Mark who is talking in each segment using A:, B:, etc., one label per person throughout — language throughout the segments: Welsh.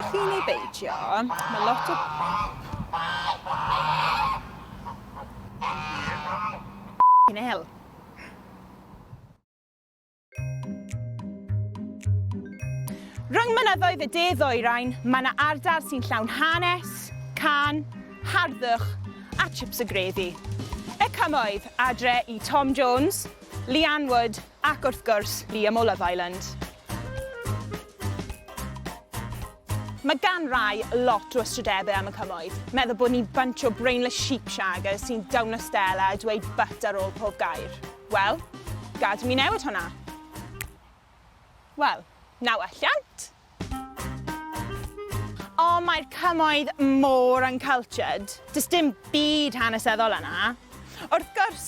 A: Prin neu beidio, mae lot o... Yn hel. Rhwng mynyddoedd y de ddwyrain, mae yna ardal sy'n llawn hanes, can, harddwch a chips y grefi. Y cymoedd, adre i Tom Jones, Leanne Wood, Ac wrth gwrs, Liam o Love Island. Mae gan rai lot o ystrydebau am y cymoedd. Meddwl bod ni'n bunch o brainless sheep shaggers sy'n dawno Stella a dweud but ar ôl pob gair. Wel, gad i mi newid hwnna. Wel, na welliant! O, mae'r cymoedd mor uncultured. Does dim byd hanesyddol yna. Wrth gwrs,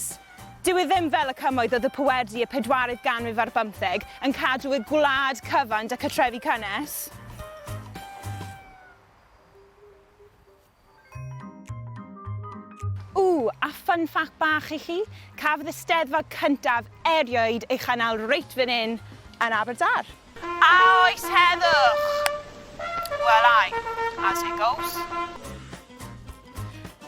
A: dyw e ddim fel y cymoedd oedd y Puerdi y pedwaredd ganrif ar bymtheg yn cadw eu gwlad cyfan da cartrefi cynnes. Ww, a fun fact bach i chi, cafodd y steddfod cyntaf erioed ei chynnal reit fan hyn yn Aberdâr. A oes heddwch? Well ai, as it goes.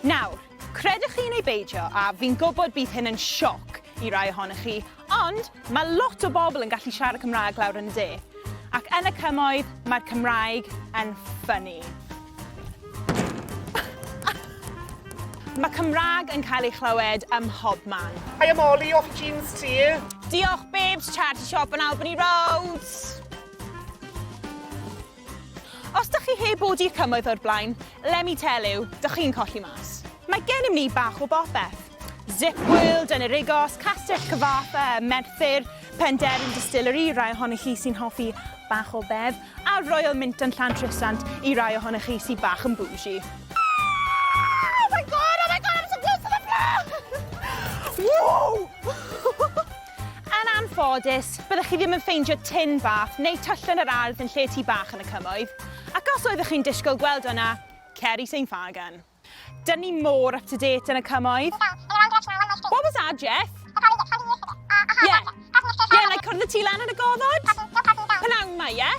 A: Nawr, credwch chi neu beidio, a fi'n gwybod bydd hyn yn sioc i rai ohonoch chi, Ond mae lot o bobl yn gallu siarad Cymraeg lawr yn y de, ac yn y cymoedd mae'r Cymraeg yn ffynnu. Mae Cymraeg yn cael ei chlywed ym mhobman. Hi I'm Ollie off
B: Jeans T. Diolch babes,
A: charity shop on Albany Road! Os dych chi heb odi cymoedd o'r blaen, let me tell you, dych chi'n colli mas. Mae gennym ni bach o bopeth. Zip World, Enyrigos, Castell Cyfarthfa, Merthyr, Penderyn Distillery, rai ohonych chi sy'n hoffi bach o bedd, a Royal Mint yn Llantrisant i rai ohonych chi sy'n bach yn bougie. Oh my god, oh my god, I'm so close to the floor! Whoa! Yn anffodus, byddech chi ddim yn ffeindio tin fath neu tyllen yr ardd yn lle tŷ bach yn y Cymoedd, ac os oeddech chi'n disgwyl gweld o yna, cer i St Fagan. Dyn ni mor up to date yn y Cymoedd. What was that, Jeff? Yeah. Yeah, like cwrdd y tŷ lan yn y goddod? Pnawn ma, ie?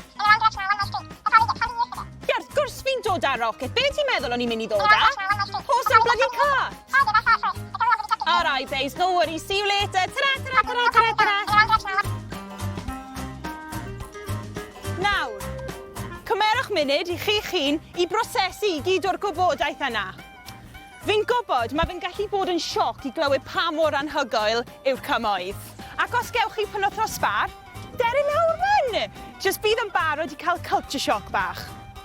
A: Ie, wrth gwrs fi'n dod â rocket. Be ti'n meddwl o'n i'n mynd i ddod â? Horse and bloody car! Alright babes, no worries, see you later. Ta-ra, ta-ra, ta-ra, ta-ra, ta-ra. Nawr, cymerwch munud i chi chi'n i brosesu i gyd o'r gwybodaeth yna. Fi'n gwybod, mae fe'n gallu bod yn sioc i glywed pa mor anhygoel yw'r cymoedd. Ac os gewch chi penwthnos sbar, deri lawr fan! Just bydd yn barod i cael culture shock bach.